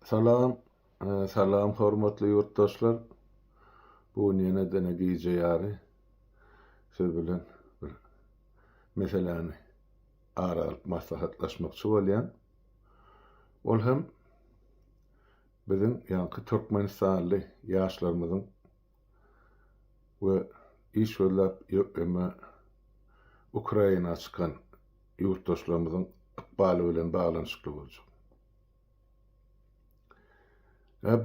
Salam, salam hormatly ýurtdaşlar. Bu gün ýene dene gije ýary siz bilen bir meseläni ara alyp maslahatlaşmakçy bolýan. Ol hem biziň ýaňky türkmenistanly ýaşlarymyzyň we iş gözläp ýöňe Ukraina çykan ýurtdaşlarymyzyň ykbaly bilen baglanyşykly boljak.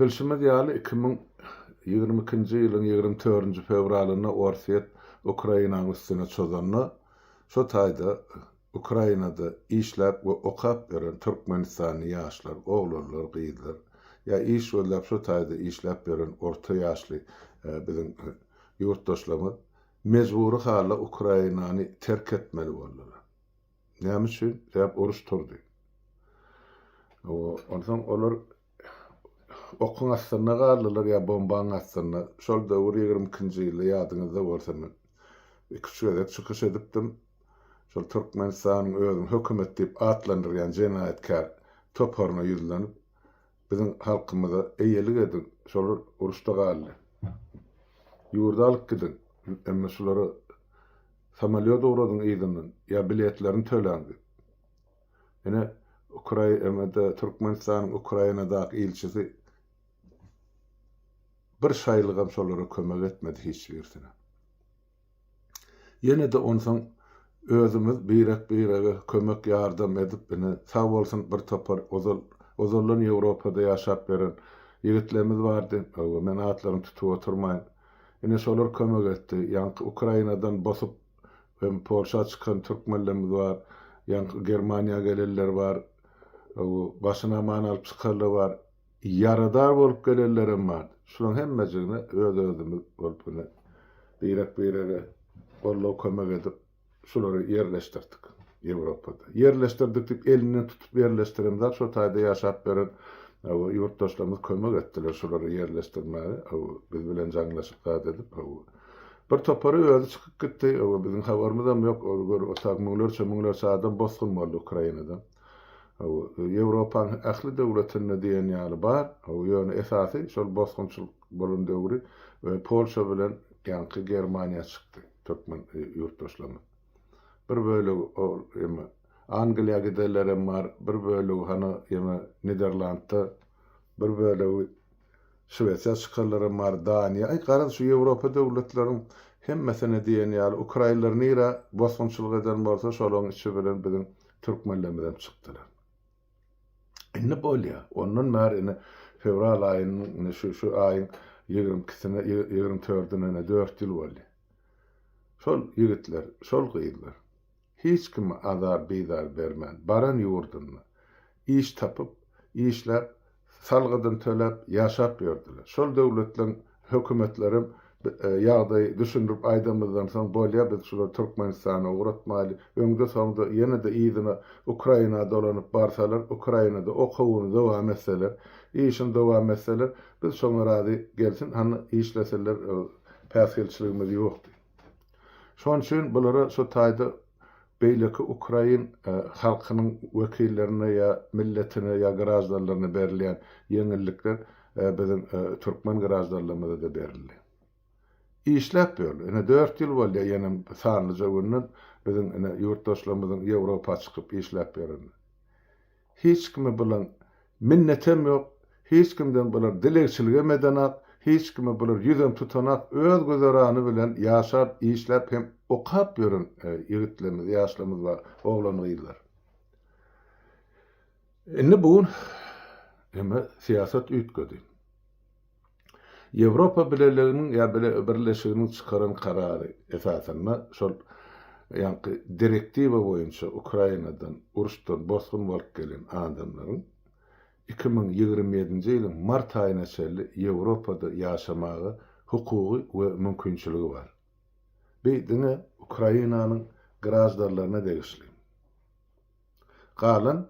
Bilşimiz ýaly, iki müň ýigrimi ikinji ýylyň ýigrimi törünji fewralynda Orsýet Ukrainanyň üstüne çozanda, şo taýda Ukrainada işläp we okap ýören türkmenistanly ýaşlar, oglanlar, gyzlar, ýa iş gözläp şu taýda işläp ýören orta ýaşly biziň ýurtdaşlarymyz mejbury halda Ukrainany terk etmeli boldular. Näme üçin? Sebäp uruş turdy. Onsoň olar Okuň astynda galdylar ýa bombaň astynda. Şol döwür ýigrimi ikinji ýyldy ýadyňyzda bolsa men iki üç gezek çykyş edipdim. Şol Türkmenistanyň özüň hökümet diýip atlandyrýan jenaýatkär toparyna ýüzlenip biziň halkymyza eýelik ediň şolar uruşda galdy. Ýurdy alyp gidiň emma şulara samolýot ugradyň yzyndan ýa biletlerini töläň diýip. Ine, Ukrainada, Türkmenistanyň Ukrainadaky ilçisi bir şaýlygam şolara kömek etmedi hiç birisine. Ýene-de onsoň özümiz birek-birege kömek ýardam edip, ine, sag bolsun bir topar ozal, ozaldan Ýewropada ýaşap ýören ýigitlerimiz bardy, hawa, men atlaryny tutup oturmaýyn. Ine, şolar kömek etdi. Ýaňky Ukrainadan bosup Hem Polşa çykan türkmenlerimiz bar. Ýaňky Germaniýa gelenler bar. Bu başyny aman alyp çykarlar bar. Ýaradar bolup gelenlerem bar. Şularyň hemmejigine öz-özümiz bolup ine birek-birege gollap kömek edip şulary ýerleşdirdik Ýewropada. Ýerleşdirdik diýip elinden tutup ýerleşdiremzok. Şo taýda ýaşap ýören ýurtdaşlarymyz kömek etdiler şulary ýerleşdirmäge biz bilen jaňlaşyp zat edip. Bir topary özi çykyp gitdi, oba biziň habarymyzam ýok, ol gör otak müňlerçe müňlerçe adam bosgun boldy Ukrainada. Oba Ýewropanyň ähli döwletinde diýen ýaly bar, oba ýöne esasy şol bosgunçylyk bolan döwri we Polşa bilen ýaňky Germaniýa çykdy türkmen ýurtdaşlarymyz. Bir bölegi ol ýeme Angliýa gidenlerem bar, bir bölegi hany ýeme Niderlandda, bir bölegi, Şwesiýa çykarlara mar Daniýa aý garaz şu ýewropa döwletleriň hemmesine diýen ýaly ukraýynlar nirä bosgunçylyk eden bolsa şolaň içi bilen biziň türkmenlerimizem çykdylar. Indi bolýa ondan bäri indi fewral aýynyň indi şu şu aýyň ýigrimi ikisine ýigrimi dördüne ine dört ýyl bolýa. Şol ýigitler şol gyzlar. Hiç kime azar-bizar bermän, baran ýurdunda iş tapyp, işläp, salgydyny töläp, ýaşap ýördüler. Şol döwletleriň hökümetlerem ýagdaýy düşündirip aýdamyzdan soň, bolýa, biz şulary Türkmenistana ugratmaýly, öňde-soňda ýene-de yzyna Ukraina dolanyp barsalar, Ukrainada okuwyny dowam etseler, işini dowam etseler, biz şoňa razy, gelsin, hany işlesinler, päsgelçiligimiz ýokdy. Şonuň üçin bulara şu taýda beýleki ukrain halkynyň wekillerine ýa milletine ýa graždanlaryna berilýän ýeňillikler biziň türkmen graždanlarymyza-da berildi. Işläp ýörler. Ine dört ýyl bolýar ýenem sanlyja günden biziň ine ýurtdaşlarymyzyň Ýewropa çykyp işläp ýörenine. Hiç kime bulan minnetem ýok, hiç kimden bular dilegçiligem edenak, hiç kime bular ýüzem tutanak, öz güzerany bilen ýaşap, işläp hem okap ýören ýigitlerimiz, ýaşlarymyz bar, oglan-gyzlar. Indi bu gün emma syýasat üýtgedi. Ýewropa Birleliginiň ýa Birleşiginiň çykaran karary esasynda şol ýaňky direktiwa boýunça Ukrainadan uruşdan bosgun bolup gelen adamlaryň iki müň ýigrimi ýedinji ýylyň mart aýyna çenli Ýewropada ýaşamaga hukugy we mümkinçiligi bar. Bi diňe Ukrainanyň graždarlaryna degişli. Galan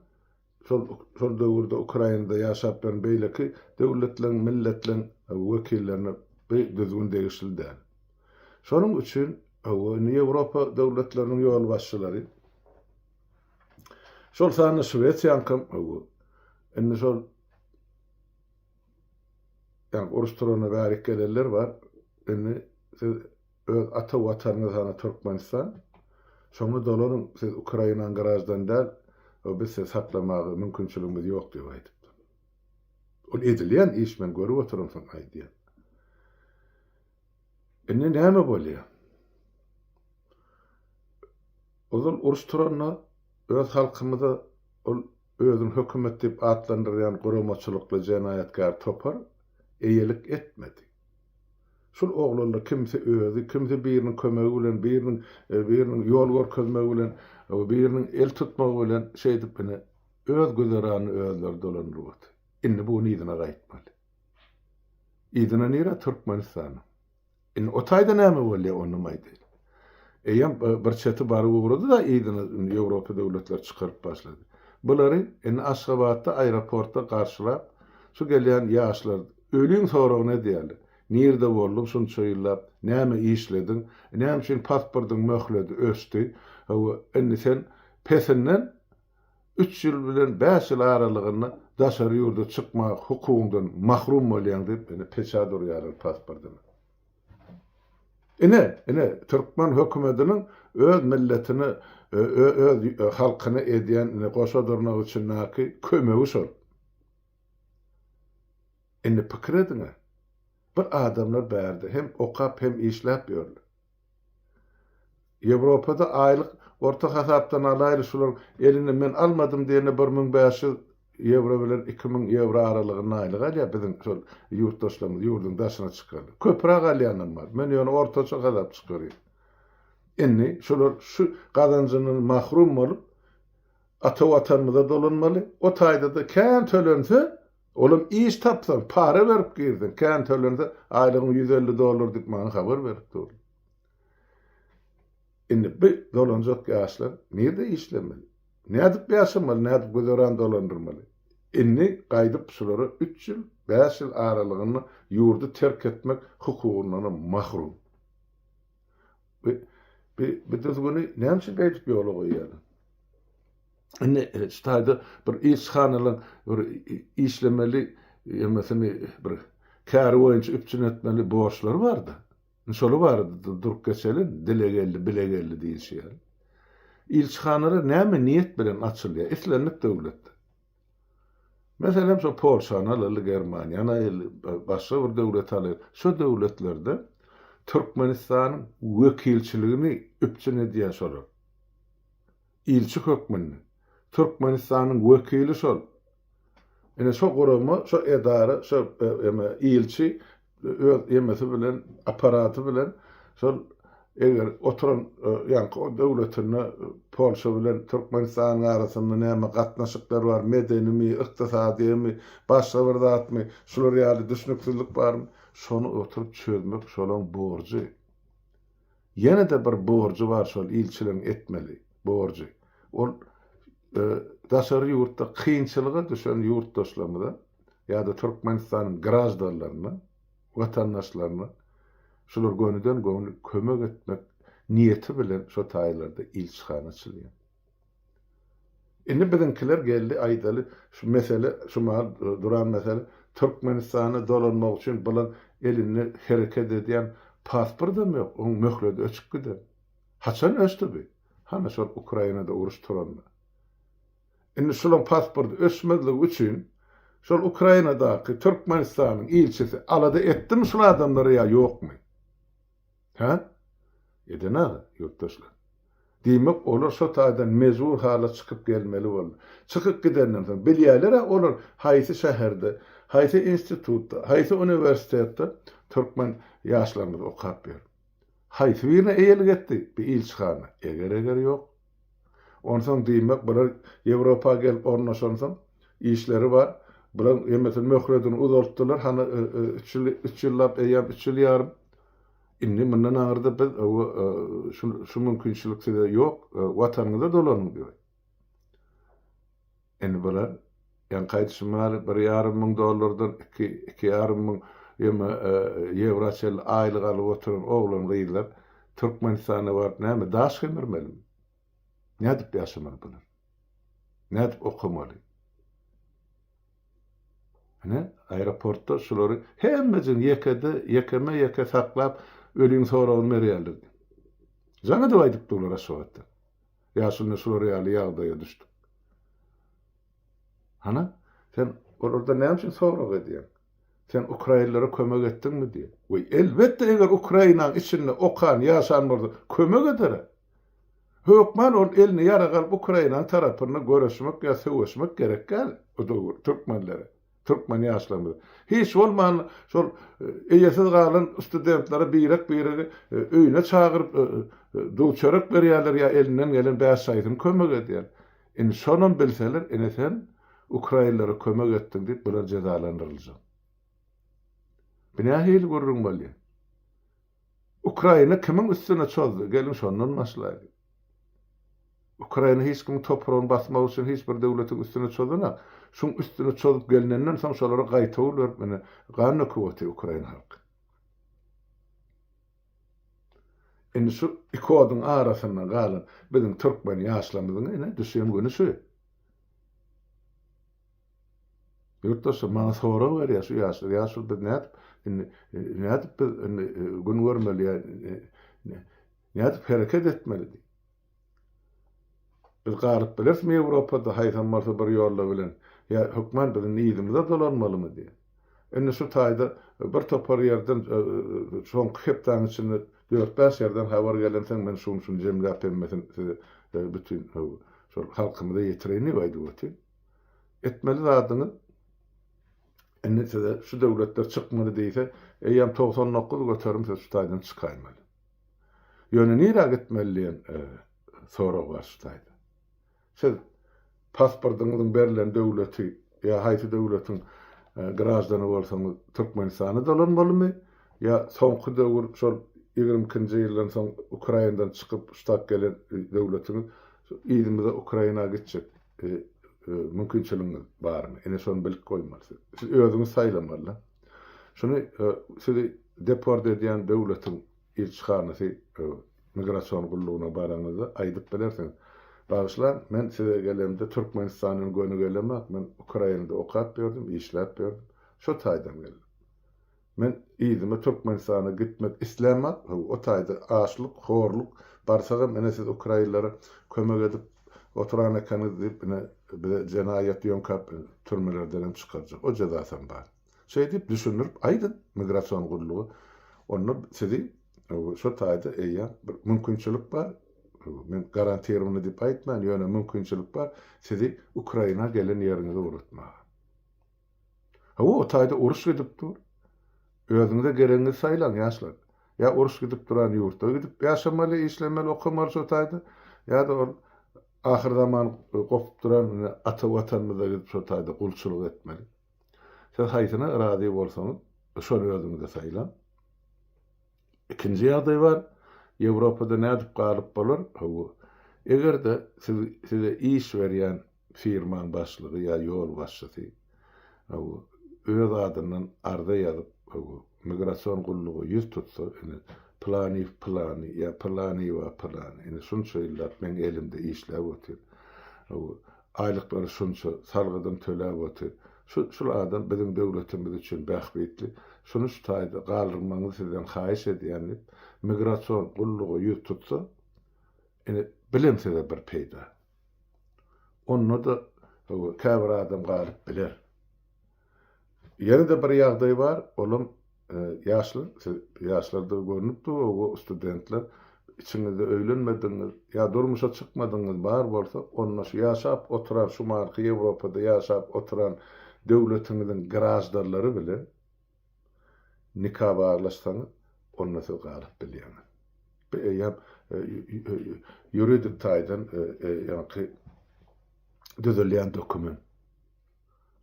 Şol şol döwürde Ukrainada ýaşap ýören beýleki döwletleriň, milletleriň wekillerine bu düzgün degişli däl. Şonuň üçin indi Ýewropa döwletleriniň ýolbaşçylary, şol sanda Şwesiýaňkam indi şol ýa uruş turana bärik gelenler bar, indi siz Öz ata watanyňyz hany Türkmenistan? Şoňa dolaryň siz Ukrainaň graždany däl we biz sizi saklamaga mümkinçiligimiz ýok diýip aýdypdyr. Ol edilýän iş men görüp oturam soň aýdýan. Indi näme bolýar? Ozal uruş turanda öz halkymyza ol Özüni hökümet diýip atlandyrýan guramaçylykly jenaýatkär topar eýelik etmedi. Şul oglanlar kimsi özi, kimsi biriniň kömegi bilen, biriniň biriniň ýol görkezmegi bilen, biriniň el tutmagy bilen şeýdip ine, öz güzeranyny özleri dolandyryp otyr. Indi bu gün yzyna gaýtmaly. Yzyna nirä? Türkmenistana. Indi o taýda näme bolýar, onam aýdaýyn. Eýýäm bir çeti baryp ugrady-da, yzyna indi Ýewropa döwletleri çykaryp başlady. Bulary indi Aşgabatda, aeroportda garşylap, şu gelýän ýaşlar öliň soragyny edýärler. Nirde bolduň şunça ýyllap, näme işlediň, näme üçin pasportyň möhledi öçdi, hawa, indi sen pesinden üç ýyl bilen bäş ýyl aralygynda daşary ýurda çykmak hukugyňdan mahrum bolýaň diýip, ine, peçat urýarlar pasportyna. Ine, ine, türkmen hökümetiniň öz milletine, öz halkyna edýän, ine, goşa durnagy üçindäki kömegi şol. Indi pikir ediň-ä! Bu adamlar bärde hem okap hem işläp ýörler. Ýewropada aýlyk orta hasapdan alaýly şular eline men almadym diýende bir müň bäş ýüz ýewro bilen iki müň ýewro aralygynda aýlyk alýar biziň şol ýurtdaşlarymyz ýurduň daşyna çykanlar. Köpürak alýanam bar. Men ýöne ortaça hasap çykarýan. Indi şular şu gazanjyndan mahrum bolup ata watanymyza dolanmaly. O taýda-da kän tölense Olam iş tapsaň, para berip girseň, kän tölense, aýlygyň ýüz elli dollar diýip maňa habar berip durdy. Indi bu dolanjak ýaşlar nirde işlemeli? Nädip ýaşamaly, nädip güzeran dolandyrmaly? Indi gaýdyp şulara üç ýyl, bäş ýyl aralygynda ýurdy terk etmek hukugyndanam mahrum. Bu düzgüni näme üçin beýdip ýola goýýarlar? Indi şu taýda bir ilçihanalaryň bir işlemeli, ýömesini bir käri boýunça üpjün etmeli borçlary bar-da. Indi şolar barada-da durup geçeliň, dile geldi, bile geldi diýilşi ýaly. Ilçihanalar näme niýet bilen açylýar? Islendik döwletde. Meselem, şol Polşany alaly, Germaniýany aýaly, başga bir döwleti alaýly. Şu döwletlerde Türkmenistanyň wekilçiligini üpjün edýär şolar. ilçi hökmünde Türkmenistanyň wekili şol. Ine şo gurama, şo edara, şo eme ilçi öz emesi bilen, apparaty bilen şol eger oturan ýaňky o döwletinde Polşa bilen Türkmenistanyň arasynda näme gatnaşyklar bar, medenimi, ykdysadymy, başga bir zatmy, şular ýaly düşnüksizlik barmy, şony oturyp çözmek şolaň borjy. Ýene-de bir borjy bar şol ilçiligiň etmeli borjy. Ol daşary ýurtda kynçylyga düşen ýurtdaşlarymyza ýa-da Türkmenistanyň graždanlaryna, watandaşlaryna şular gönüden-göni kömek etmek niýeti bilen şo taýlarda ilçihana açylýar. Indi biziňkiler geldi aýdaly şu mesele şu mahaly duran mesele Türkmenistana dolanmak üçin bulan elinde hereket edýän pasportam ýok oň möhledi öçüp giden haçan öçdi bi hany şol Ukrainada uruş turanda indi şulaň pasporty öçmezligi üçin şol Ukrainadaky Türkmenistanyň ilçisi alada etdimi şul adamlary ýa ýokmy? Hä? Edenag ýurtdaşlar. Diýmek, olar şo taýdan mejbur hala çykyp gelmeli boldy. Çykyp gidenden soň, bilýärler-ä olar haýsy şäherde, haýsy institutda, haýsy uniwersitetde türkmen ýaşlarymyz okap ýör. Haýsy birine eýelik etdi bu ilçihana? Eger-eger ýok. Onsoň, diýmek, bular Ýewropa gelip ornaşansoň, işleri bar. Bular ýemesin möhledini uzaltdylar, hany, üç ýyl, üç ýyllap eýýäm, üç ýyl ýarym. Indi mundan aňyrda biz şu mümkinçilik size ýok, watanyňyza dolanyň diýip. Indi bular ýaňky aýdyşym ýaly bir ýarym müň dollardan iki, iki ýarym müň ýewra çenli aýlyk alyp oturan oglan-gyzlar Türkmenistana baryp näme daş gemirmelimi? Nädip ýaşamaly bular? Nädip okamaly? Ine, aeroportda şulary hemmejigini ýekede, ýekeme-ýeke saklap, öliň soragyny berýärler. Jaň edip aýdyp durlar Aşgabatda. Ýaşulna şular ýaly ýagdaýa düşdük. Hana, sen olardan näme üçin sorag edýäň? Sen ukrainlere kömek etdiňmi diýip. Weý, elbetde, eger Ukrainaň içinde okan, ýaşan bolsa, kömek ederä. Hökman ol elini ýarag alyp Ukrainanyň tarapynda göreşmek ýa söweşmek gerek däl o döwür türkmenlere, türkmen ýaşlarymyza. Hiç bolmanda şol eýesiz galan studentlere birek-biregi öýüne çagyryp duw-çörek berýärler ýa elinden gelen bäş şaýsyny kömek edýär. Indi şonam bilseler ine sen ukrainlere kömek etdiň diýip bular jezalandyryljak. Bu nähili gürrüň bolýar? Ukraina kimiň üstüne çozdy? Geliň şondan başlaýlyň. Ukraina hiç kimiň topragyny basmak üçin hiç bir döwletiň üstüne çozanak. Şuň üstüne çozup gelnenden soň şolara gaýtawul berip ine gan döküp otyr ukraina halky. Indi şu iki oduň arasynda galan biziň türkmen ýaşlamyzyň ine düşen güni şu. Ýurtdaşlar maňa sorag berýär şu ýaşlar, ýaşlar biz nädip indi nädip biz indi gün görmeli ýa nädip hereket etmeli diýip. Biz galyp bilerismi Ýewropada haýsam bolsa bir ýolla bilen ýa hökman biz indi yzymyza dolanmalymy diýip. Indi şu taýda bir topar ýerden soňky hepdäniň içinde dört-bäş ýerden habar gelensoň men şuny-şuny jemläp hemmesini size bütin şol halkymyza ýetireýin diýip aýdyp otyryn. Etmeli zadyňyz indi size şu döwletler çykmaly diýse, eýýäm togsan dokuz göterim siz şu taýdan çykaýmaly. Ýöne nirä gitmeli diýen sorag bar şu taýda. Siz pasportyňyzyň berlen döwleti ýa haýsy döwletiň graždany bolsaňyz Türkmenistana dolanmalymy ýa soňky döwür şol ýigrimi ikinji ýyldan soň Ukrainadan çykyp ştat gelen döwletiňiz yzymyza Ukraina gitjek. Siziň mümkinçiligiňiz barmy? Ine şony bilip goýmaly siz. Siz özüňiz saýlamaly-da. Şuny sizi deport edýän döwletiň ilçihanasy, migrasion gullugyna baraňyzda aýdyp bilersiňiz. Bagyşlaň, men size gelemde Türkmenistandan göni gelemok, men Ukrainada okap ýördüm, işläp ýördüm. Şo taýdan geldim. Men yzyma Türkmenistana gitmek islämok, haw, o taýda açlyk, horluk, barsagam ine siz ukrainlere kömek edip oturan ekeniňiz diýip ine bize jenaýat ýöňkäp türmelerdenem çykarjak, o jezasam bar. Şeý diýip düşündirip aýdyň migrasion gulluga, onda sizi şo taýda eýýäm bir mümkinçilik bar, men garantirowany diýip aýtman, ýöne mümkinçilik bar sizi Ukraina gelen ýeriňize ugratmaga. Hawa, o taýda uruş gidip dur. Özüňize geregiňizi saýlaň, ýaşlar. Ýa uruş gidip duran ýurtda gidip ýaşamaly, işlemeli, okamaly şo taýda, ýa-da ol ahyrzaman gopup duran ata Watanymyza gidip şo taýda gulçulyk etmeli. Siz haýsyna razy bolsaňyz, şony özüňize saýlaň. Ikinji ýagdaý bar. Ýewropada nädip galyp bolar? Hawa, eger-de siz size iş berýän firmaň başlygy ýa ýolbaşçysy öz adyndan arza ýazyp, migrasion gulluga ýüz tutsa, indi Pylanyýew pylany ýa Pylanyýewa pylany, indi şunça ýyllap meň elimde işläp otyr, aýlyklary şunça, salgydym töläp otyr, şul adam biziň döwletimiz üçin bähbitli, şuny şu taýda galdyrmagyňyzy sizden haýyş edýän diýip, migrasion gulluga ýüz tutsa, indi bilemsiz-ä bir peýda. Onda-da hawa, käbir adam galyp biler. Ýene-de bir ýagdaý bar, olam ýaşlar, siz ýaşlardygy görnüp dur, o studentler, içiňizde öýlenmedigiňiz ýa durmuşa çykmadygyňyz bar bolsa, onda şu ýaşap oturan, şumarky Ýewropada ýaşap oturan döwletiňiziň graždarlary bilen, Nika baglaşsaňyz, onda siz galyp bilýäňiz. Bu eýýäm ýuridik taýdan ýaňky düzülýän dokument.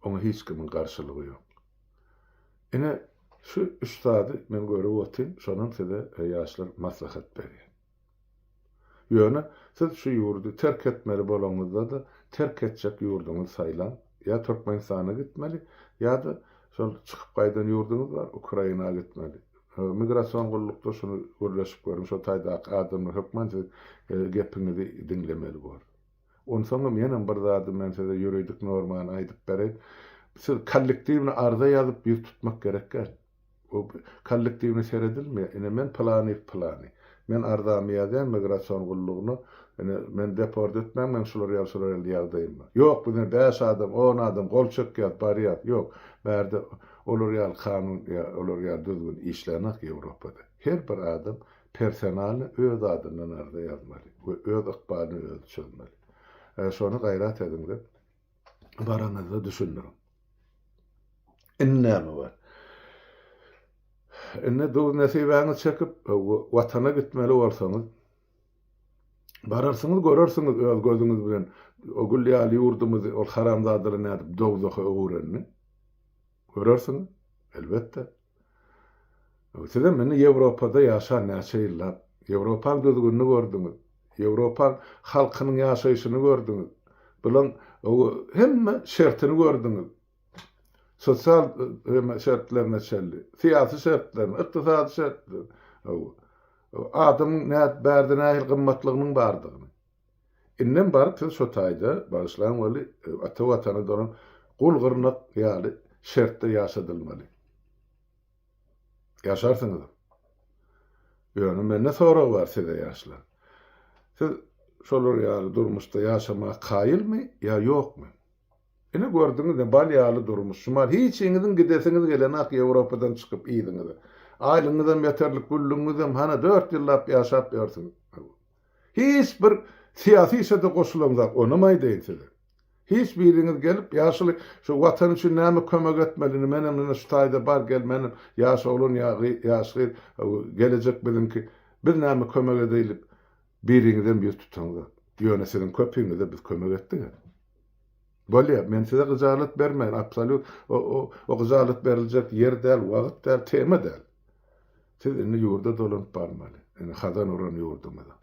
Oňa hiç kimiň garşylygy ýok. Ine, şu üç zady men görüp otyryn, şonam size ýaşlar maslahat berýän. Ýöne siz şu ýurdy terk etmeli bolaňyzda-da, terk etjek ýurduňyzy saýlaň. Ýa Türkmenistana gitmeli, ýa-da şol çykyp gaýdan ýurduňyz bar, Ukraina gitmeli. Migrasion gullukda şuny gürleşip görüň, şo taýdaky adamlar hökman siziň gepiňizi diňlemeli bor. Onsoňam ýenem bir zady men size ýuridik normany aýdyp bereýin. Siz kollektiwne arza ýazyp ýüz tutmak gerek däl. Bu kollektiwne seredilmeýär. Ine, men pylany, pylany. Men arzamy ýazýan migrasion gullugyna. Ine, meni deport etmäň, meň şular ýaly, şular ýaly ýagdaýym bar. Ýok, biz ine bäş adam, on adam gol çekýäris, barýarys. Ýok, bärde olar ýaly kanun ýa olar ýaly düzgün işlänok Ýewropada. Her bir adam personalno öz adyndan arza ýazmaly we öz ykbalyny özi çözmeli. Şony gaýrat ediňiz. baranyzda düşündiriň. Indi näme bar? Indi duz-nesibäňiz çekip, Watana gitmeli bolsaňyz, bararsyňyz, görersiňiz öz gözüňiz bilen, o gül ýaly ýurdumyzy ol haramzadalar nädip dowzaha öwürenini görersiňiz, elbetde. Sizem indi Ýewropada ýaşan näçe ýyllap, Ýewropaň düzgünini gördüňiz, Ýewropaň halkynyň ýaşaýşyny gördüňiz, bulan hemme şertini gördüňiz, sosial şertlerine çenli, syýasy şertlerini, ykdysady şertlerini, adamyň bärde nähili gymmatlygynyň bardygyny. Indem baryp siz şo taýda, bagyşlaň weli, ata Watana dolan gul gyrnak ýaly şertde ýaşadylmaly. Ýaşarsyňyzam. Ýöne mende sorag bar size ýaşlar. Siz şolar ýaly durmuşda ýaşamaga kaýylmy ýa ýokmy? Ine gördüňizmi, bal ýaly durmuş, şumal hiçiňiziň gidesiňiz gelenok Ýewropadan çykyp yzyňyza. Aýlygyňyzam ýeterlik, güllügiňizem, hana dört ýyllap ýaşap ýörsüňiz. Hiç bir syýasy işe-de goşulamzok, onam aýdaýyn size. Hiç biriňiz gelip, ýaşuly, şu Watan üçin näme kömek etmeli, indi menem ine şu taýda bar gel, menem ýaş oglan ýa ýaş gyz, gelejek biziňki, biz näme kömek edeýlik, biriňizem ýüz tutaňzok. Ýöne siziň köpiňize biz kömek etdik-ä. Bolýar, men size gyjalat bermeýän, absolýut o gyjalat beriljek ýer däl, wagt däl, tema däl. Siz indi ýurda dolanyp barmaly, indi hazan uran ýurdumyza.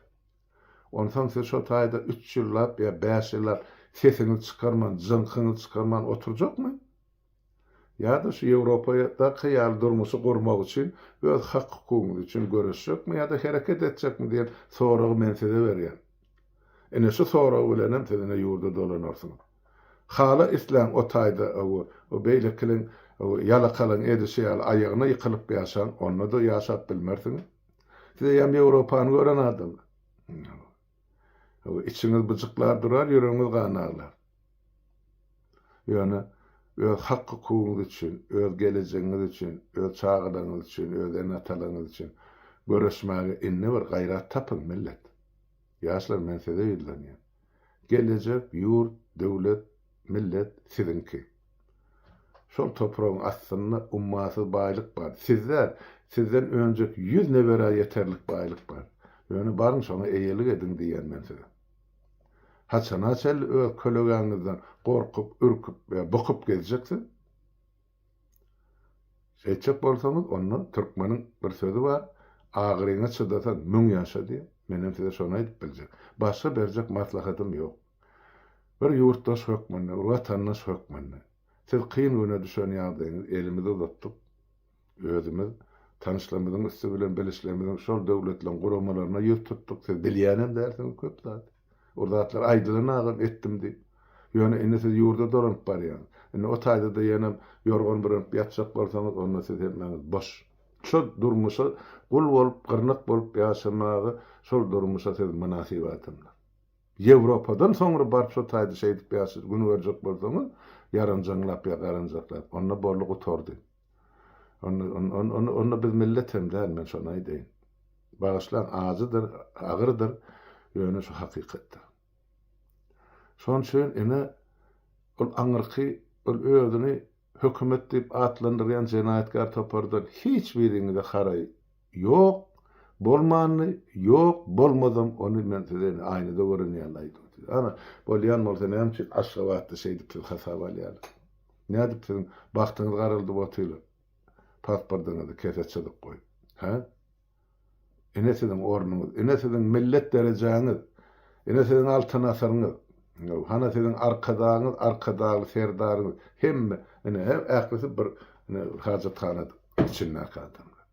Onsoň siz şo taýda üç ýyllap ýa bäş ýyllap sesiňizi çykarman, jyňkyňyzy çykarman oturjakmy? Ýa-da şu Ýewropada-ky ýaly durmuşy gurmak üçin öz hak-hukugyňyz üçin göreşjekmi ýa-da hereket etjekmi diýen soragy men size berýän. Ine şu sorag bilenem siz ine ýurda dolanarsyňyz. Hala isläň o taýda owo o beýlekiliň owo ýalakalyň edişi ýaly aýagyna ýykylyp ýaşaň onda-da ýaşap bilmersiňiz. Siz eýýäm Ýewropany gören adamsyz. Içiňiz byjyklar durar, ýüregiňiz gan aglar. Ýöne öz hak-hukugyňyz üçin, öz gelejegiňiz üçin, öz çagalaryňyz üçin, öz ene-atalaryňyz üçin göreşmäge indi bir gaýrat tapyň, millet! Ýaşlar, men size ýüzlenýän. Gelejek, ýurt, döwlet, millet siziňki. Şol topragyň astynda ummasyz baýlyk bar. Siz däl, sizden önjek ýüz neberä ýeterlik baýlyk bar. Ýöne baryň şoňa eýelik ediň diýýän men size. Haçana çenli öz kölegäňizden gorkup, ürküp we bukup gezjeksiz? Şeýtjek bolsaňyz, onda türkmeniň bir sözi bar, Agyryňa çydasaň, müň ýaşa diýýär. Menem size şony aýdyp biljek. Başga berjek maslahatym ýok. Bir ýurtdaş hökmünde, bir watandaş hökmünde, siz kyn güne düşen ýagdaýyňyz elimizi uzatdyk, özümiz tanyşlarymyzyň üsti bilen bilişlerimiziň şol döwletleriň guramalaryna ýüz tutduk, siz bilýänem dälsiňiz köp zady. O zatlar aýdylan agam etdim diýip. Ýöne indi siz ýurda dolanyp barýaňyz. Indi o taýda-da ýenem ýorgan bürenip ýatjak bolsaňyz, onda siz hemmäňiz boş. Şo durmuşa gul bolup, gyrnak bolup ýaşamaga şol durmuşa siz mynasyp adamlar. Ýewropadan soňra baryp şo taýda şeýdip ýa siz gün görjek bolsaňyz, ýaranjaňlap ýa garanjaklap, onda boldy gutardy. Onda biz millet hem däl, men şony aýdaýyn. Bagyşlaň, ajydyr, agyrdyr, ýöne şu hakykatdyr. Şonuň üçin ine, ol aňyrky, ol özüni hökümet diýip atlandyrýan jenaýatkär topardan hiç biriňize haraý Ýok, bolmandy, ýok, bolmazam, ony men size indi aýnada gören ýaly aýdym size. Ana, bolýan bolsa näme üçin Aşgabatda şeýdip siz hasaba alýalar? Nädip siziň bagtyňyz garaldyp otylar? Pasportyňyzy kese çyzyk goýup. Hä? Ine siziň ornuňyz, ine siziň millet derejäňiz, ine siziň altyn asyryňyz. Ýow, hana siziň arkadagyňyz, arkadagly serdaryňyz. Hemme, ine, ählisi bir, ine, bir hajathanada. Içindäki adamlar.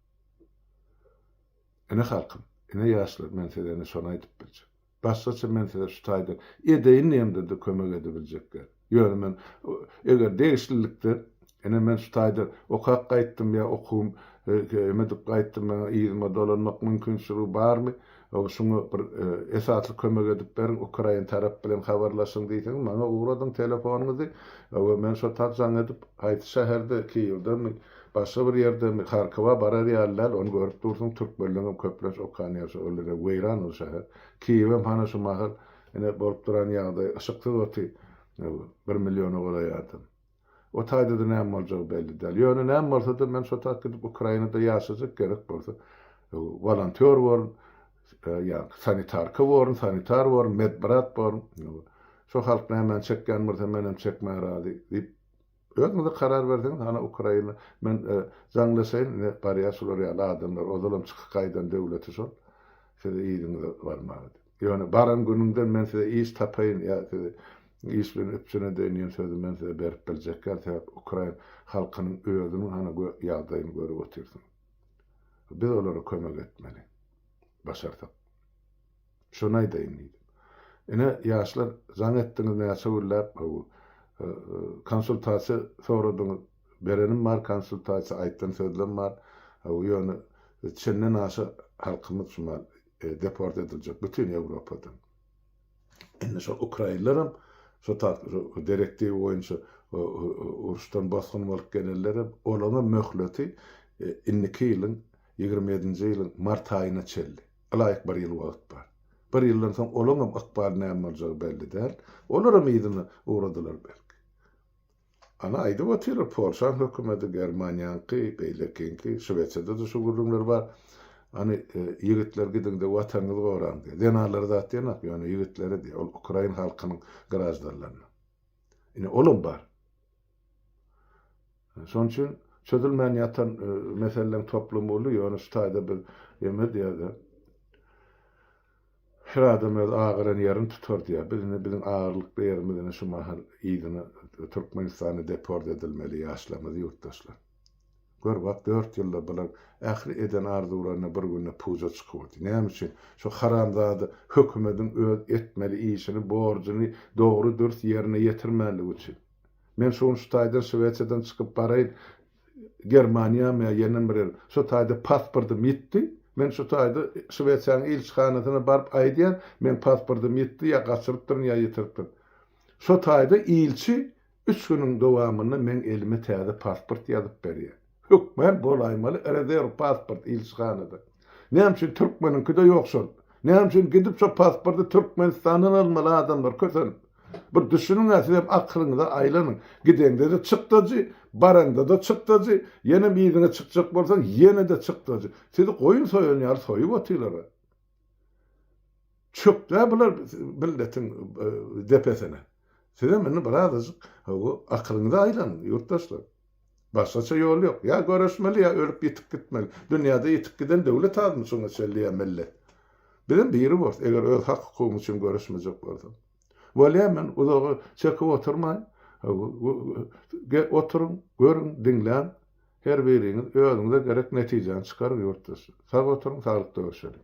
Ine halkym, ine ýaşlar men size indi şony aýdyp biljek. Başgaça men size şu taýdan edeýin diýemde-de kömek edibiljek däl. Ýöne men eger degişlilikde ine men şu taýdan okap gaýtdym ýa okuwym emedip gaýtdym maňa yzyma dolanmak mümkinçiligi barmy? Şuňa bir esasly kömek edip beriň, ukrain tarap bilen habarlaşyň diýseňiz, maňa ugradyň telefonyňyzy we men şo tat jaň edip, haýsy şäherde, Kiýewdemi, başga bir ýerdemi, Harkowa barar ýaly däl, ony görüp dursuň, türkmenleňem köplenç okan ýeri şo, ol ine weýran ol şäher. Kiýewem hana şu mahal ine bolup duran ýagdaý, yşyksyz oty bir milliona golaý adam. O taýda-da näme boljagy belli däl. Ýöne näme bolsa-da, men şo taýda gidip Ukrainada ýaşajak, gerek bolsa, wolontýor borun, ýa-da sanitarka borun, sanitar borun, medbrat borun. Şo halk nämäni çekýän bolsa, men hem çekmäge razy, diýip, özüňiz-de karar berseňiz, hany Ukraina, men jaňlaşaýyn, ine, barýar şular ýaly adamlar, ozalam çykyp gaýdan döwleti şol, siz yzyňyza barmaga diýip. Ýöne baran günüňden men size iş tapaýyn ýa sizi iş bilen üpjün edeýin diýen sözi men size berip biljek däl, sebäp ukrain halkynyň özüniň hany ýagdaýyny görüp otyrsyň. Biz olara kömek etmeli. Başarsak. Şony aýdaýyn diýdim. Ine, ýaşlar, jaň etdiňiz näçe günläp, haw, konsultasiýa soradyňyz, berenim bar konsultasiýa, aýtdan sözlem bar, haw, ýöne çenden aşa halkymyz şumal deport ediljek bütin Ýewropadan. Indi şol ukrainler hem şo tak direktiwa boýunça uruşdan bosgun bolup gelenler hem olaň hem möhleti indiki ýylyň ýigrimi ýedinji ýylyň mart aýyna çenli. Ylaýyk bir ýyl wagt bar. Bir ýyldan soň olaň hem ykbaly näme boljagy belli däl. Olar hem yzyna ugradylar belki. Ana aýdyp otyrlar polşaň hökümedi germaniýaňky beýlekiňki şwesiýadada şu gürrüňler bar any ýigitler gidiňde watanyňyzy goraň diýýär zenanlara zat diýenok ýöne ýigitlere diýýär ol ukrain halkynyň graždanlaryna ine olam bar şonuň üçin çözülmän ýatan meseleleň toplumy uly ýöne şu taýda biz emir diýýär Her adam öz agyran ýerini tutar diýýär. Biz indi biziň agyrlykly ýerimiz indi şu mahal yzyna Türkmenistana deport edilmeli ýaşlarymyz ýurtdaşlar. Gör bak dört ýylda bular ähli eden arzuwlaryna bir günde puja çykyberdi. Näme üçin? Şu haramzada hökümediň öz etmeli işini borjuny dogry dürs ýerine ýetirmänligi üçin. Men şu gün şu taýdan Şwesiýadan çykyp baraýyn Germaniýam ýa ýene bir ýer. Şu taýda pasportym ýitdi. Men şu taýda Şwesiýanyň ilçihanasyna baryp aýdýan, meň pasportym ýitdi, ýa gaçyrypdyryn, ýa ýitiripdirin. Şo taýda ilçi üç günüň dowamynda meň elime täze pasport ýazyp berýär. Hökman bolaýmaly rezerw pasport ilçihanada. Näme üçin türkmeniňkide ýok şol? Näme üçin gidip şo pasporty Türkmenistandan almaly adamlar kösenip? Bir düşüniň-ä sizem akylyňyza aýlanyň. Gideňde-de çykdajy, baraňda-da çykdajy, ýenem yzyňa çykjak bolsaň ýene-de çykdajy. Sizi goýun soýan ýaly soýup otyrlar-a. Çökdä bular milletiň depesine. Sizem indi birazajyk akylyňyza aýlanyň, ýurtdaşlar. Başgaça ýol ýok. Ýa göreşmeli, ýa ölüp ýitip gitmeli. Dünýäde ýitip giden döwlet azmy şuňa çenli ýa millet? Bizem biri bors, eger öz hak-hukugym üçin göreşmejek bolsaň. Bolýa, men uzaga çekip oturmaýyn. Oturyň, görüň, diňläň. Her biriňiz özüňize gerek netijäni çykaryň, ýurtdaşlar. Sag oturyň, saglyk döreşeliň.